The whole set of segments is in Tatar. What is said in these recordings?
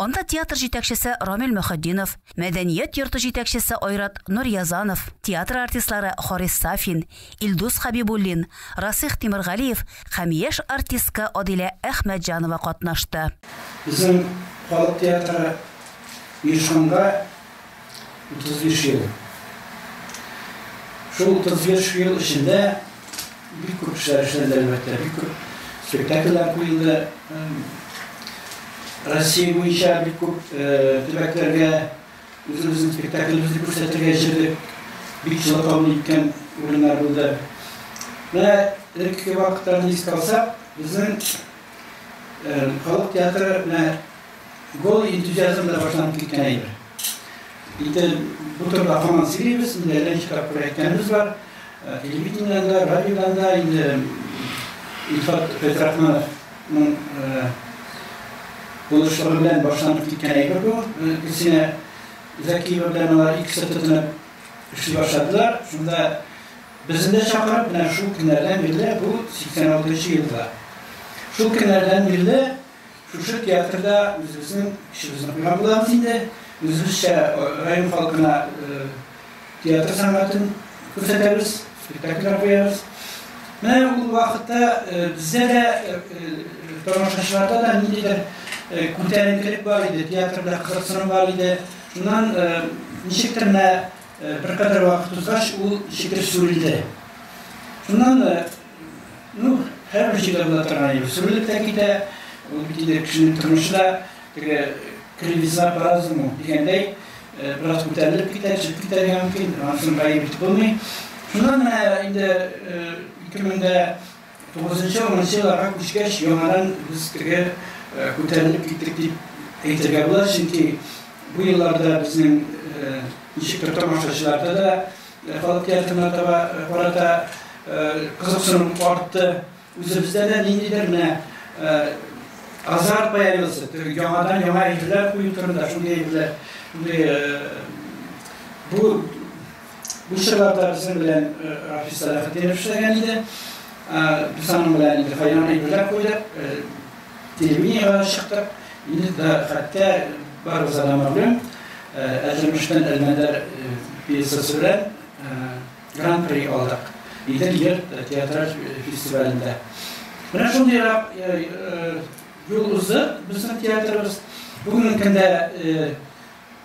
Анда театр җитәкчесе Рамил Мөхетдинов, мәдәният йорты җитәкчесе Айрат Нуръязанов, театр артистлары Харис Сафин, Илдус Хәбибуллин, Расыйх Тимергалиев һәм яшь артистка Адилә Әхмәтҗанова катнашты. Безнең халык театры оешканга 35 ел. Шул 35 ел эчендә бик күп эшләр эшләнде, әлбәттә, бик күп спектакльләр куелды. Россия буенча бик күп э, төбәкләргә үзебезнең спектакльләребезне күрсәтергә җыйдык. Бик җылы кабул иткән урыннар булды. Менә элеккеге вакытларны искә алсак, безнең Халык театры менә голый энтузиазм белән башланып киткән әйбер. Инде бу турыда һаман сөйлибез, инде әллә ничә тапкыр әйткәнебез бар. Телевидениедән дә, радиодан да инде Илфат Фәйзрахмановның булышлыгы белән башланып киткән әйбер бу. Гөлсинә Зәкиева белән алар икесе тотынып эшли башладылар. Шунда Безне дә чакырып, менә шул көннәрдән бирле, бу 86 нчы елда, шул көннәрдән бирле шушы театрда үзебезнең эшебезне куйган булабыз инде. Үзебезчә район халкына театр сәнгатен күрсәтәбез, спектакльләр куябыз. Менә ул вакытта бездә дә, тамашачыларда да ниндидер күтәренкелек бар иде, театрда кызыксыну бар иде. Шуннан ничектер менә Беркадәр вакыт узгач, ул шикел сүрелде. Шуннан, ну, һәрбер җирдә була торган иде. Сүрелеп тә китә. Ул бит инде кешенең тормышы да теге кривизна по разуму дигәндәй, бераз күтәрелеп китә, төшеп китәргә мөмкин. Ансын гаеп итеп булмый. Шуннан инде 2000 дә Тугызынчы, унынчы елларга күчкәч, яңадан без теге күтәрелеп киттек дип әйтергә була, чөнки бу елларда безнең ничектер тамашачыларда да халык театрына таба карата кызыксыну артты. Үзебездә дә ниндидер менә азарт появился, яңадан яңа әйберләр кую турында, шундый әйберләр, шундый бу Бу чорларда безнең белән Рафис Сәлахетдинов эшләгән иде. Без аның белән инде файдан әйберләр куйдык, телевидениегә дә чыктык. Инде дә хәтта барыбызга да мәгълүм, Әлҗәмештән Әлмәндәр пьесасы белән Гран-при алдык. Идел йорт театраль фестивалендә. Менә шундыйрак юл узды безнең театрыбыз. Бүгенге көндә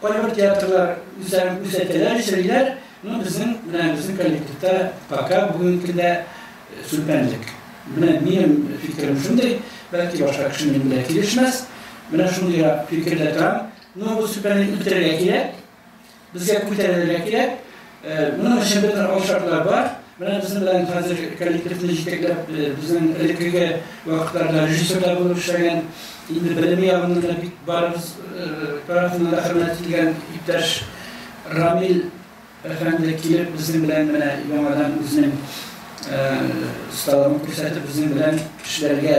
Кайбер театрлар үзләрен күрсәтәләр, эшлиләр, но безнең менә безнең коллективта пока бүгенге көндә сүлпәнлек. Менә минем фикерем шундый, бәлки башка кеше минем белән килешмәс, менә шундый фикердә торам, но бу сүлпәнлек үтерергә кирәк, безгә күтәрелергә кирәк, Моның өчен бөтен алшартлар бар. Менә безнең белән хәзер коллективны җитәкләп, безнең элеккеге вакытларда режиссер да булып эшләгән, инде белеме ягыннан да бик барыбыз тарафыннан да хөрмәт ителгән иптәш Рамил әфәнде килеп, безнең белән менә яңадан үзенең осталыгын күрсәтеп, безнең белән эшләргә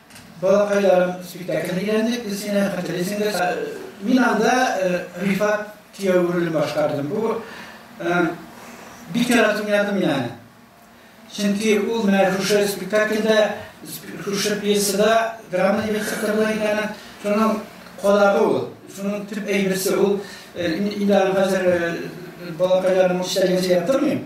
Балакайларым спектаклен өйрәндек без синнән, хәтерлисеңдер. Мин анда Рифат кияү ролен башкардым. Бу бик яратып уйнадым мин аны. Чөнки ул менә шушы спектакльдә, шушы пьесада драма директоры була иде аны. Шуның кодагы ул, шуның төп әйберсе ул. Инде аны хәзер балакайларның үз чәйгә сөйләп тормыйм.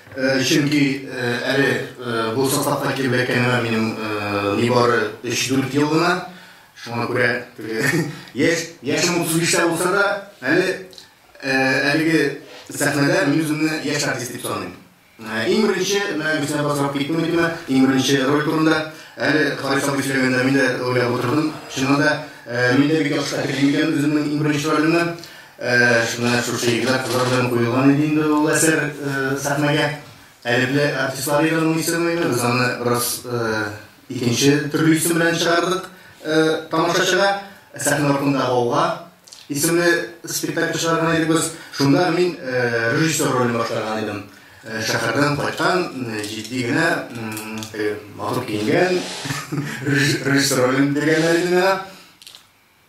Чөнки әле бу составка килеп эләккәнемә минем нибары 3-4 ел гына. Шуңа күрә яшь, яшем 35-тә булса да, әле әлеге сәхнәдә мин үземне яшь артист дип саныйм. Иң беренче, менә Гөлсинә апа сорап китте микәнме, иң беренче роль турында. Әле Харис абый сөйләгәндә мин дә уйлап утырдым. Чыннан да, мин дә бик яхшы хәтерлим икән үземнең иң беренче ролемне. Ә менә шушы егетләр, кызлар белән куелган иде инде ул әсәр сәхнәгә. Әлепле артистлар иде аның исеме иде. Без аны бераз икенче төрле исем белән чыгардык тамашачыга. Сәхнә артында гауга исемле спектакль чыгарган идек без. Шунда мин режиссер ролен башкарган идем. Шәһәрдән кайткан, җитди генә, матур киенгән режиссер ролен биргәннәр иде миңа.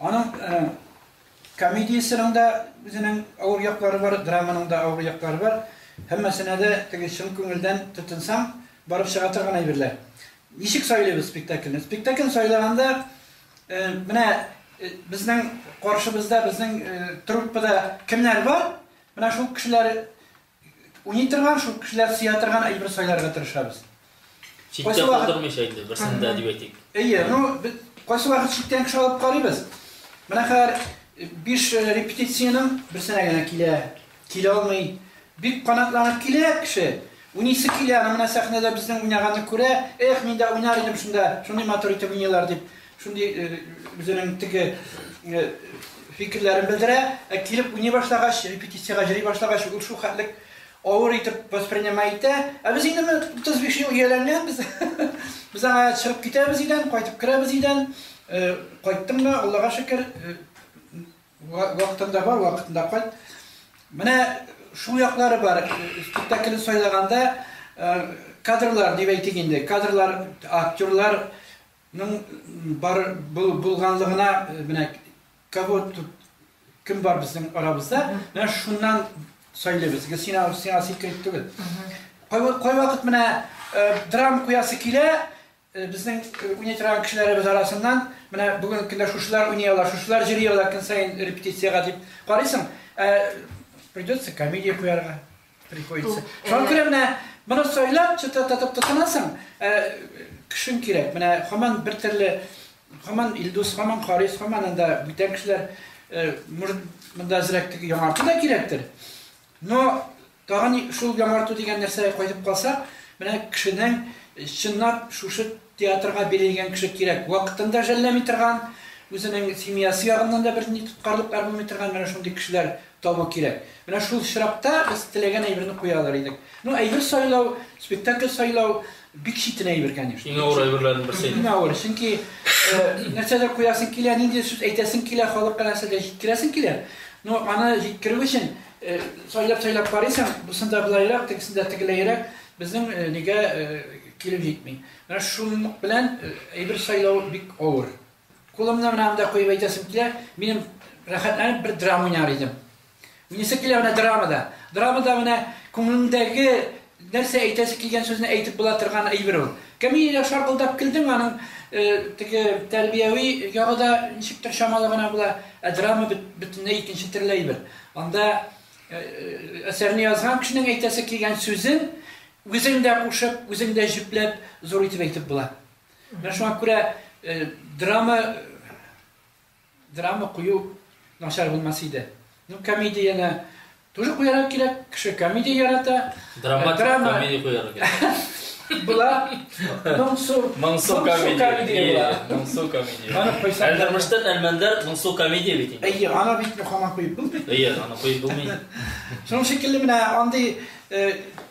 Аның комедиясенең дә үзенең авыр яклары бар, драманың да авыр яклары бар. Һәммәсенә дә теге чын күңелдән тотынсаң, барып чыга торган әйберләр. Ничек сайлыйбыз спектакльне? Спектакльне сайлаганда менә безнең каршыбызда, безнең труппада кемнәр бар? Менә шул кешеләр Уйный торган, шул кешеләр сөя торган әйбер сайларга тырышабыз. Читтә калдырмыйча инде, берсен дә дип әйтик. Әйе, ну, кайсы вакыт читтән кеше алып карыйбыз. Менә хәзер биш репетициянең берсенә генә килә, килә алмый. Бик канатланып килә кеше. Унисе килә, менә сәхнәдә безнең уйнаганны күрә, эх, мин дә уйнар идем шунда, шундый матур итеп уйныйлар дип. Шундый үзенең теге фикерләрен белдерә, ә килеп уйный башлагач, репетициягә җыри башлагач, ул шул хәтлек авыр итеп воспринимай итә. Ә без инде 35 ел ияләнгәнбез. Без аңа чыгып китәбез идән, кайтып керәбез идән. Кайттым да, Аллага шөкер, вакытында бар, вакытында кайт. Менә шул яклары бар. Спектакльне сайлаганда кадрлар дип әйтик инде. Кадрлар, актерлар Ның бар булганлыгына менә кого тут кем бар безнең арабызда, менә шуннан сөйлибез. Гел сиңа сиңа секрет түгел. Кай вакыт менә драм куясы килә, безнең уйный торган кешеләребез арасыннан, менә бүген көндә шушылар уйный ала, шушылар җыри ала көн саен репетициягә дип карыйсың, придется комедия куярга. Приходится. Шуңа күрә менә моны сайлап, чытататып тотынасың, ә, кешең кирәк. Менә хаман бер төрле, хаман Илдус, хаман Харис, хаман анда бүтән кешеләр, э, может, монда әзрәк теге яңарту да кирәктер. Но тагын шул яңарту дигән нәрсәгә кайтып калсак, менә кешенең э, чынлап шушы театрга бирелгән кеше кирәк. Вакытын да жәлләми торган, үзенең семьясы ягыннан да бер ни тоткарлыклар булмый торган, менә шундый кешеләр табу кирәк. Менә шул очракта без теләгән әйберне куя алыр идек. Ну, әйбер сайлау, спектакль сайлау бик читен әйбер, конечно. Иң авыр әйберләрнең берсе инде. Иң авыры, чөнки нәрсәдер куясың килә, нинди сүз әйтәсең килә, халыкка нәрсәдер җиткерәсең килә. Ну, аны җиткерү өчен сайлап-сайлап карыйсың, бусында болайрак, тегесендә тегеләйрәк, безнең нигә килеп җитми. Менә шуның белән әйбер сайлау бик авыр. Кулымны менә анда куеп әйтәсем килә, минем рәхәтләнеп бер драма уйнар идем. Уйныйсы килә менә драмада. Драмада менә күңелендәге нәрсә әйтәсе килгән сүзне әйтеп була торган әйбер ул. Кәмилә шаркылдап килдең, аның э, теге тәрбияви ягы да ничектер чамалы гына була, ә драма бөтенләй икенче төрле әйбер. Анда э, э, әсәрне язган кешенең әйтәсе килгән сүзен үзең дә кушып, үзең дә җипләп, зур итеп әйтеп була. Менә шуңа күрә драма драма кую начар булмас иде. Ну, комедияне тоже куярга кирәк, кеше комедия ярата. Драма, драма... комедия куярга кирәк. Была Мансу. Мансу комедия. Мансу комедия. Аны куйсам. Әлдермештән әлмәндәр Мансу комедия бит инде. Әйе, ана бит мөхәммәт куеп булмый. Әйе, ана куеп булмый. Шуның шикелле менә андый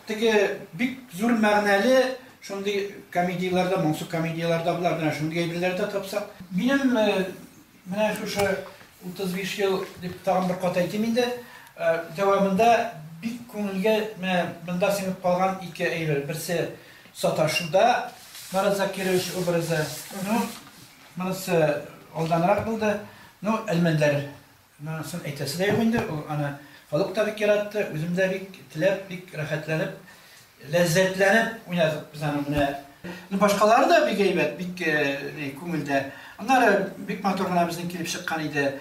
теге бик зур мәгънәле Шундый комедияләрдә, моңсу комедияләрдә була, менә шундый әйберләр дә тапсак. Минем менә шушы 35 ел дип тагын бер кат әйтим инде, дәвамында бик күңелгә менә монда сеңеп калган ике әйбер. Берсе саташуда Марат Закирович образы, ну, монысы алданрак булды, ну, Әлмәндәр. Монысын әйтәсе дә юк инде, ул аны халык та бик яратты, үзем дә бик теләп, бик рәхәтләнеп, ләззәтләнеп уйнадык без аны менә. Ну башкалары да бик әйбәт, бик ни, күңелдә. Аннары бик матур гына безнең килеп чыккан иде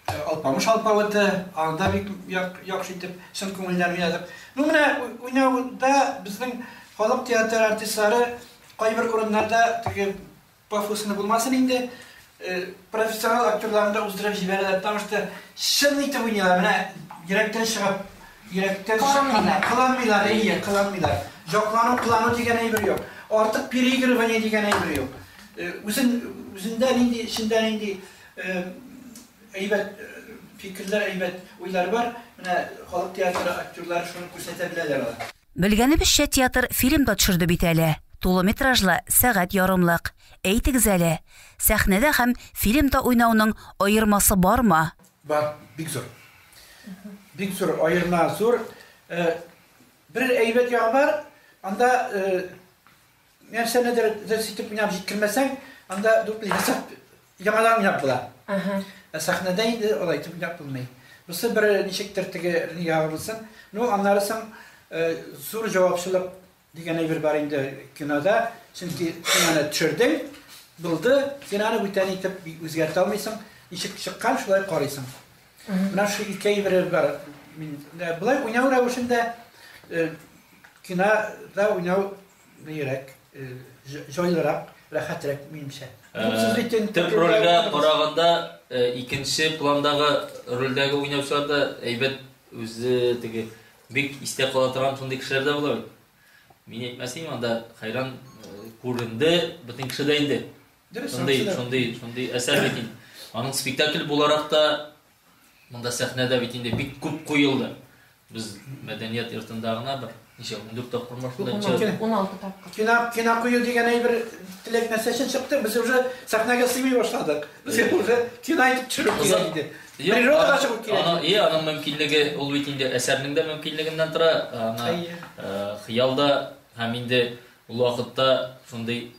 Алпамыш алпавыты, аны да бик яхшы итеп, чын күңелдән уйнадык. Ну менә уйнауда безнең халык театры артистлары кайбер урыннарда теге Пафослы булмасын инде, профессионал актерларны да уздырып җибәрәләр, потому что чын итеп уйныйлар, менә йөрәктән чыгып, йөрәктән чыккан, кыланмыйлар, әйе, кыланмыйлар. Җаклану, кылану дигән әйбер юк, артык переигрывание дигән әйбер юк. Үзен, үзендә нинди, эчендә нинди әйбәт фикерләр, әйбәт уйлар бар, менә халык театры актерлары шуны күрсәтә беләләр алар. Белгәнебезчә, театр фильм да төшерде бит әле. Тулы метражлы, сәгать ярымлык. Әйтегез әле, сәхнәдә һәм фильмда уйнауның аермасы бармы? Бар, бик зур. Бик зур, аерма зур. Бер әйбәт ягы бар, анда Нәрсәнедер дөрес итеп уйнап җиткермәсәң, анда дуплый хисап яңадан уйнап була. Ә сәхнәдә инде алай итеп уйнап булмый. Бусы бер ничектер теге ягы булсын. Ну, аннары соң зур җавапчылык дигән әйбер бар инде кинода. Чөнки син аны төшердең, булды, син аны бүтән итеп үзгәртә алмыйсың. Ничек чыккан, шулай карыйсың. Менә шул ике әйбер бар. Мин болай уйнау рәвешендә кинода уйнау Бигрәк җайлырак, рәхәтрәк минемчә. Төп рольгә караганда икенче пландагы рольдәге уйнаучылар да әйбәт үзе теге бик истә кала торган шундый кешеләр дә була бит. Мин әйтмәсәм, анда хәйран күренде, бөтен кеше дә инде. Шундый, шундый, шундый әсәр бит инде. Аның спектакль буларак та Монда сәхнәдә бит инде бик күп куелды. Без мәдәният йортында гына бер ничә 14 тапкыр ма шунда чыгып. 16 тапкыр. Кина кина кую дигән әйбер теләк нәрсә өчен чыкты. Без уже сәхнәгә сыймый башладык. Безгә уже кина итеп төшерү кирәк иде. Природага чыгу кирәк. Ана, и, аның мөмкинлеге ул бит инде әсәрнең дә мөмкинлегеннән тора. Ана хыял да һәм инде ул вакытта шундый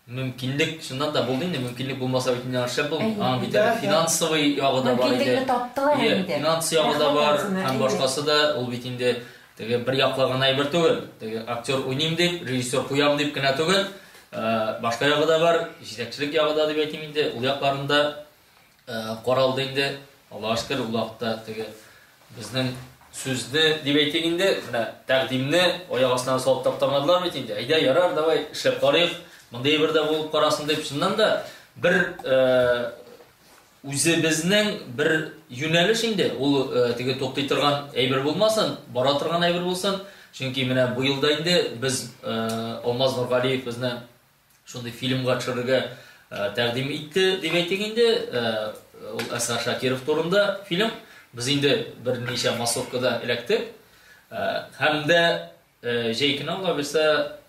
Мөмкинлек шуннан да булды инде, мөмкинлек булмаса бит инде шәп булмый. Аның бит әле финансовый ягы да бар иде. Мөмкинлекне таптылар инде. Финанс ягы да бар, һәм башкасы да, ул бит инде теге бер яклы гына әйбер түгел. Теге актер уйныйм дип, режиссер куям дип кенә түгел. Башка ягы да бар, җитәкчелек ягы да дип әйтим инде. Ул якларында Каралды инде, Аллага шөкер, ул вакытта теге безнең сүзне, дип әйтик инде, менә тәкъдимне аяк астына салып таптамадылар бит инде. Әйдә, ярар, давай, эшләп карыйк. Мондый бер дә булып карасын дип, шуннан да бер үзебезнең бер юнәлеш инде. Ул теге туктый торган әйбер булмасын, бара торган әйбер булсын. Чөнки менә бу елда инде без Алмаз Нургалиев безне Шундый фильмга төшерергә тәкъдим итте, дип әйтик инде. Ул Әсгар Шакиров турында фильм. Без инде берничә массовкада эләктек. Һәм дә җәй көне ала бирсә,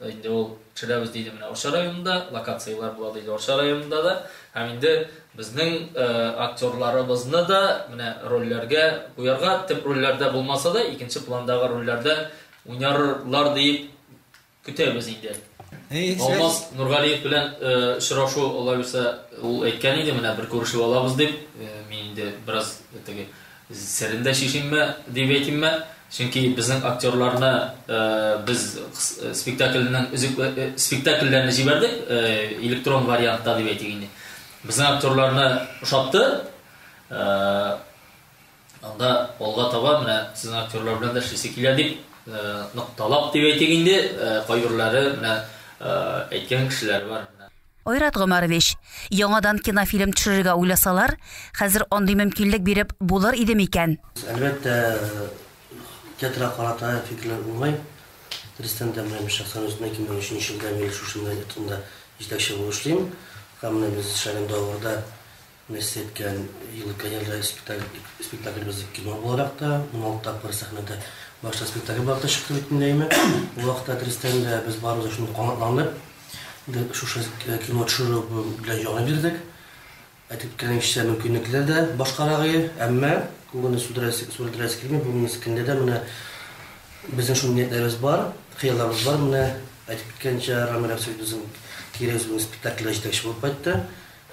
инде ул төшерәбез диде менә Орча районында, локацияләр була диде Орча районында да. Һәм инде безнең актерларыбызны да менә рольләргә куярга, төп рольләрдә булмаса да, икенче пландагы рольләрдә уйнарлар дип Көтәбез инде. Алмаз Нургалиев белән очрашу алай булса, ул әйткән иде, менә бер күрешеп алабыз дип, мин инде бераз теге серен дә чишимме дип әйтимме, чөнки безнең актерларны без спектакльнең өзек спектакльләрне җибәрдек электрон вариантта дип әйтик инде. Безнең актерларны ошатты. Анда алга таба менә сезнең актерлар белән дә эшлисе килә дип, нык талап дип әйтик инде, кайберләре менә әйткән кешеләр бар. Айрат Гомәрович, яңадан кинофильм төшерергә уйласалар, хәзер андый мөмкинлек биреп булыр иде микән? Әлбәттә, театрга карата фикерләр булмый. Рөстәм дә белән мин шәхсән үзем 2003 елдан бери шушында, театрында җитәкче булып эшлим. Һәм менә без эшләгән давырда Нәрсә әйткән елы Каялда спектаклебыз кино буларак та, уналты тапкыр сәхнәдә башта спектакль буларак та чыкты бит инде, әйме? Ул вакытта әтрәстән дә без барыбыз да шундук канатландык. Инде шушы кино төшерү белән җан бирдек. Әйтеп киткәнемчә, мөмкинлекләр дә башкарагые, әмма күңелне сүрелдерәсе килми, бүгенге көндә дә менә безнең шундый ниятләребез бар, хыялларыбыз бар. Менә әйтеп киткәнчә, Рамил Рәмсәтов безнең кире үзебезнең спектакльдә җитәкче булып кайтты.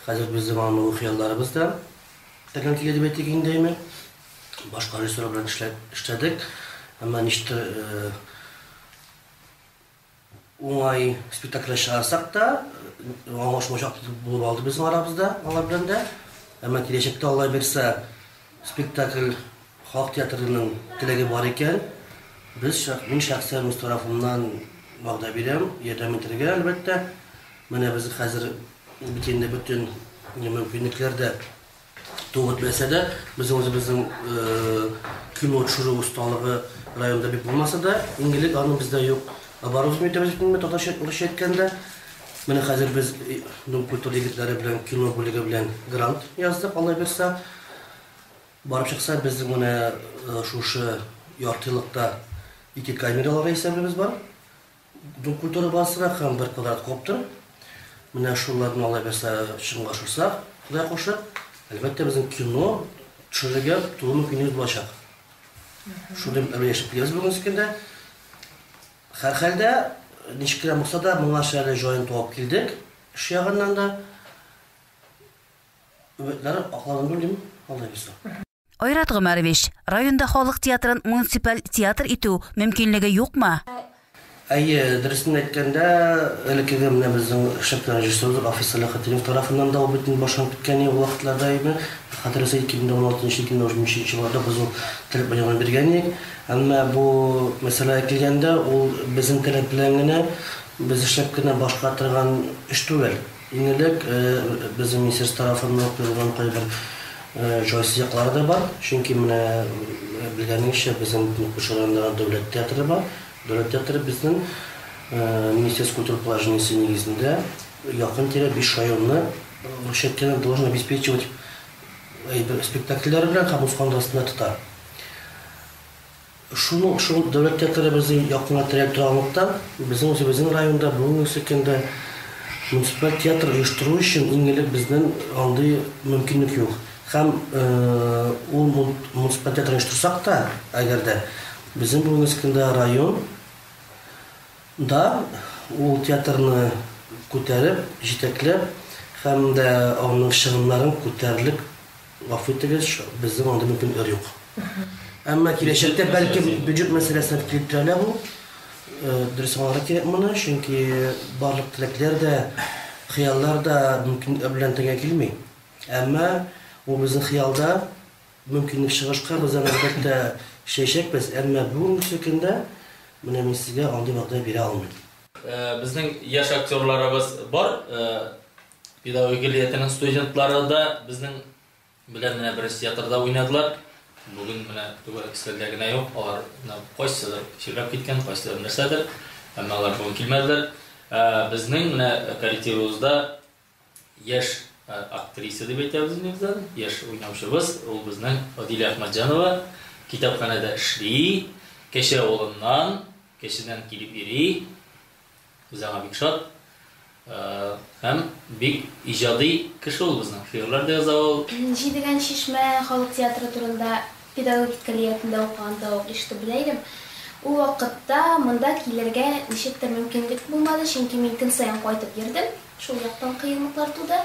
Хәзер безнең андый хыялларыбыз да тәкәл килә дип әйтик инде, әйме? Башка режиссерлар белән эшләп эшләдек, әмма ничектер уңай спектакльләр чыгарсак та, аңлашмаучак булып алды безнең арабызда алар белән дә. Әмма киләчәктә, Аллаһ бирса, Спектакль Халык театрының теләге бар икән, без, мин шәхсән үз тарафымнан вәгъдә бирәм, ярдәм итәргә, әлбәттә. Менә без хәзер бит инде бөтен мөмкинлекләр дә тулы бетмәсә дә, безнең үзебезнең кино төшерү осталыгы районда бик булмаса да, иң элек аны бездә юк оборудование итәбез бит инде, татарча-русча әйткәндә. Менә хәзер без Дом культуры егетләре белән кино бүлеге белән грант яздык, Аллаһ бирса. Барып чыкса, безнең менә шушы яртыелыкта ике камералар исәбебез бар. Дом культуры базасында һәм бер квадрат коптер. Менә шуларны Аллаһ бирса чынга ашырса, Ходай кушып, әлбәттә безнең кино төшерергә тулы мөмкинлегебез булачак. Шундый әмәл яшәп киләбез бүгенге көндә. Һәрхәлдә, ничек кенә булса да, моңарчы әле җаен туап килдек, эш ягыннан да. Өметләр акланды дим, алдай булса. Айрат Гомәрович, районда халык театрын муниципаль театр итү мөмкинлеге юкмы? Әйе, дөресен әйткәндә, элеккеге менә безнең шәп режиссерыбыз Рафис Сәләхетдинов тарафыннан да ул бит инде башланып киткән иде ул вакытларда инде. Хәтерегезгә 2016-2017 елларда без ул теләк белдергән идек. Әмма бу мәсьәләгә килгәндә, ул безнең теләк белән генә, без эшләп кенә башкара торган эш түгел. Иң элек, безнең министерство тарафыннан куелган кайбер җайсыз яклары да бар. Чөнки менә белгәнегезчә, безнең Көнкүрше районында дәүләт театры бар. Дәүләт театры безнең Министерство культуры положениесе нигезендә якын-тирә биш районны рушать кенә должен обеспечивать әйбер спектакльләре белән һәм үз фондасында тота. Шул ук шул дәүләт театры безнең якына терәп торганлыктан, безнең үзебезнең районда бүгенге көндә муниципаль театр оештыру өчен иң элек безнең андый мөмкинлек юк. Һәм ул муниципаль театр оештырсак та, әгәр дә, безнең бүгенге көндә район да ул театрны күтәреп, җитәкләп һәм дә аның чыгымнарын күтәрерлек Гафу итегез, безнең анда мөмкинлекләр юк. Әмма киләчәктә, бәлки, бюджет мәсьәләсенә дип килеп терәлә бу. Дөрес аңларга кирәк моны, чөнки барлык теләкләр дә, хыяллар да мөмкинлекләр белән тәңгә килми. Әмма бу безнең хыялда, мөмкинлек чыгышка без аны, әлбәттә, эшләячәкбез. Әмма бүгенге төркемдә менә мин сезгә андый вәгъдә бирә алмыйм. Безнең яшь актерларыбыз бар. Педагогика лиятенең студентлары да безнең белән менә беренче театрда уйнадылар. Бүген менә түгәрәк өстәлдә генә юк, алар кайсыдыр чирләп киткән, кайсыдыр нәрсәдер, әмма алар бүген килмәделәр. Ә, Безнең менә коллективыбызда яшь ә, актриса дип әйтәбез бездән, яшь уйнаучыбыз, ул безнең Адилә Әхмәтҗанова, китапханәдә эшли, Кәче авылыннан, Кәчедән килеп йөри. Без аңа бик шат. Һәм бик иҗади кеше ул безнең. Шигырьләр дә яза ул. Җидегән чишмә халык театры турында педагогик көллиятендә укыганда ук ишетеп белә идем. Ул вакытта монда килергә ничектер мөмкинлек булмады, чөнки мин көн саен кайтып йөрдем, шул яктан кыенлыклар туды.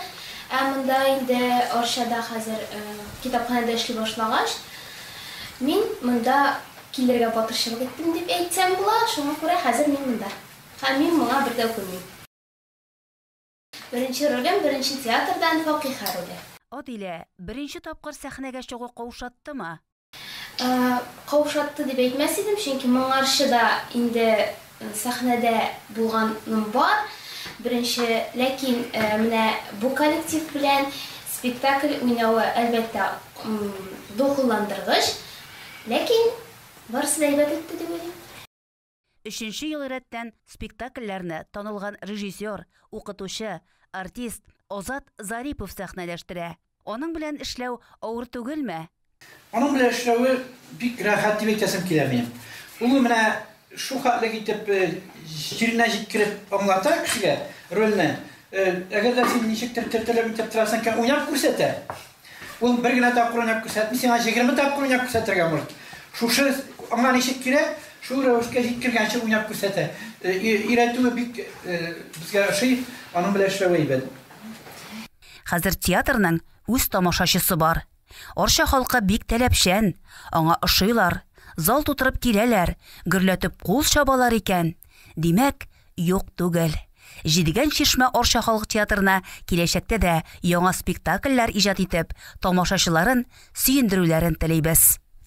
Ә монда инде Арчада хәзер китапханәдә эшли башлагач, мин монда Килергә батырчылык иттем дип әйтсәм була, шуңа күрә хәзер мин монда. Һәм мин моңа бер дә үкенмим. Беренче ролем, беренче театрдан, Факиһә роле. Адилә, беренче тапкыр сәхнәгә чыгу каушаттымы? Каушатты дип әйтмәс идем, чөнки моңарчы да инде Сәхнәдә булганым бар, беренче, ләкин менә бу коллектив белән спектакль уйнавы, әлбәттә, дулкынландыргыч, ләкин барысы да әйбәт үтте дип уйлыйм. Өченче ел рәттән спектакльләрне танылган режиссер, укытучы, артист Азат Зарипов сәхнәләштерә. Аның белән эшләү авыр түгелме? Аның белән эшләве бик рәхәт дип әйтәсем килә минем. Ул менә шул хәтлек итеп җиренә җиткереп аңлата кешегә рольне. Әгәр дә син ничектер төртелеп итеп торасың икән, уйнап күрсәтә. Ул бер генә тапкыр уйнап күрсәтми, сиңа 20 тапкыр уйнап күрсәтергә может. Шушы аңа ничек кирәк, шул рәвешкә җиткергәнче уйнап күрсәтә. Өйрәтүе бик безгә ошый, аның белән эшләве әйбәт. Хәзер театрның үз тамашачысы бар. Арча халкы бик таләпчән, аңа ошыйлар, зал тутырып киләләр, гөрләтеп кул чабалар икән. Димәк, юк түгел. Җидегән чишмә Арча халык театрына киләчәктә дә яңа спектакльләр иҗат итеп, тамашачыларын сөендерүләрен телибез.